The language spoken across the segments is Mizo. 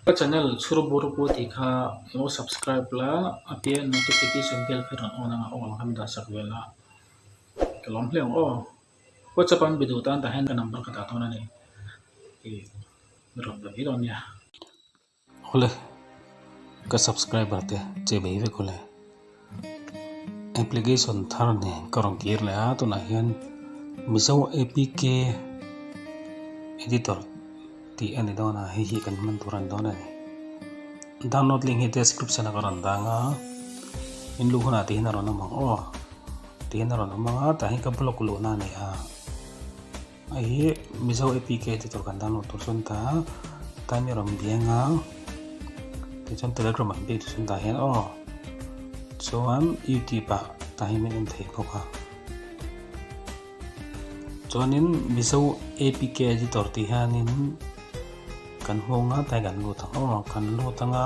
Ka channel chhur bur pu tih kha alo subscribe la a piah ah notification bell kha rawn on ang a awl khan dah sak ve la ka lawm hle ang aw whatsapp an be duh tan tah hian ka number ka dah dawn a ni ih mi rawn be mai dawn nia ka subscriber te che mai vek aw le. Application thar nen ka rawn kir leh a tunah hian mizo apk editor tih a ni dawn a hei hi kan hman tur a ni dawn a ni download link hi description ah ka rawn dang a in luh hunah tih hian a rawn awm ang aw tih hian a rawn awm ang a tah hian ka block luhna a ni a. Hei hi Mizo APK te tur kan download tur sawn ta time erawh min bia anga ti chuan telegram ah bik sawn ta hian aw chuan youtube ah ta hian min en thei bawk a chuanin Mizo APK te tur ti hianin kan hmanga ta kan lut ang aw kan lut anga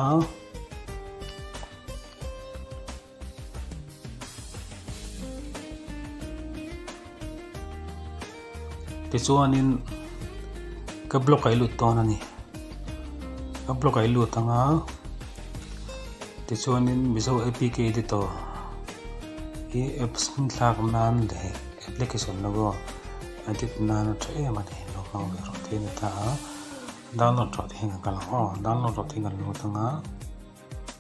tichuanin ka block a i lut dawn a ni ka block a i lut ang a tichuanin mizo apk editor hi apps hming thlak nan leh application logo edit nan a tha em a ni naupang leh rawh te a ni ta a download rawh tih hi ka lo awh download rawh tih ka lo lut ang a.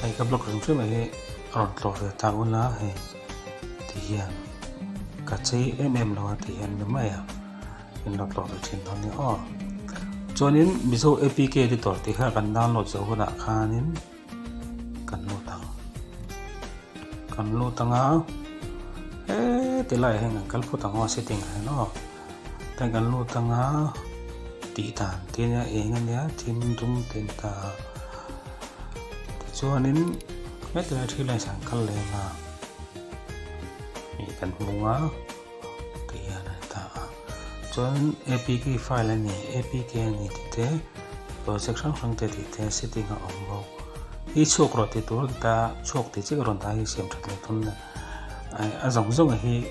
Hei ka block reng fem mai hi a rawn tlawh ve ta ula hei ti hian ka chei em em lo a ti hian ni mai a in lo tlawh ve thin dawn nia aw chuanin mizo apk editor tih kha kan download zo hunah khanin kan lut ang kan lut anga he ti laiah hian kan kal phut ang aw setting ah hian aw. Tag an lut anga tih dan te nia eng a nia thim dum ten ta tichuanin hetilai a thil a insan kal leh anga ih kan hmu a tih hian a ta a chuanin apk file a ni apk a ni tih te project hrang hrang te tih te setting a awm bawk i chhuak rawh ti tur ka ta a chhuak tih chiah ka rawn dah a i siam that leh dawn a zawng zawng a hi--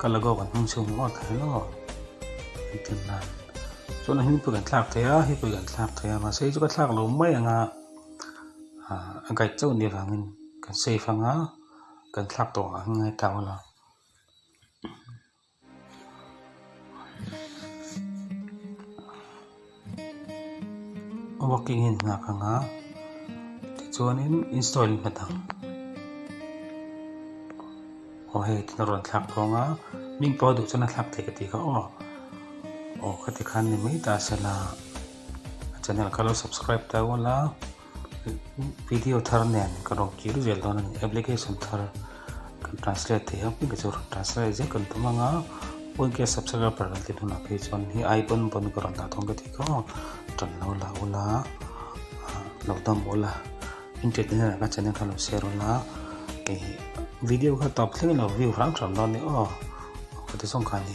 Ka la gawk an hmang cheu maw ta hian aw an ti nan chuan a hming pawh kan thlak thei a hi pawh kan thlak thei a mahse hi chu ka thlak lo mai ang a a guide chauh ni avangin kan safe ang a kan thlak tawh ang hi ngai ta aw la working in hna ka nga tichuan in install in hna dang aw hei thil a rawn thlak thawng a min pawh duh chuan a thlak thei ka ti kha aw aw ka ti khan ni mai ta sela channel ka lo subscribe ta ual a. video thar nen ka rawn kir vel dawn a ni application thar kan translate thei ang puia chu rawn translate zet kan tum ang a pawn kia subscriber kan ti hunah phei chuan hei ai pawn pawn ka rawn dah dawn ka ti kha tan lo la u la lo dam u la internet ah hian ka channel kha lo share u la hei video kha tawp thleng lo view hrang hrang dawn a ni aw ka ti zawng kha a ni.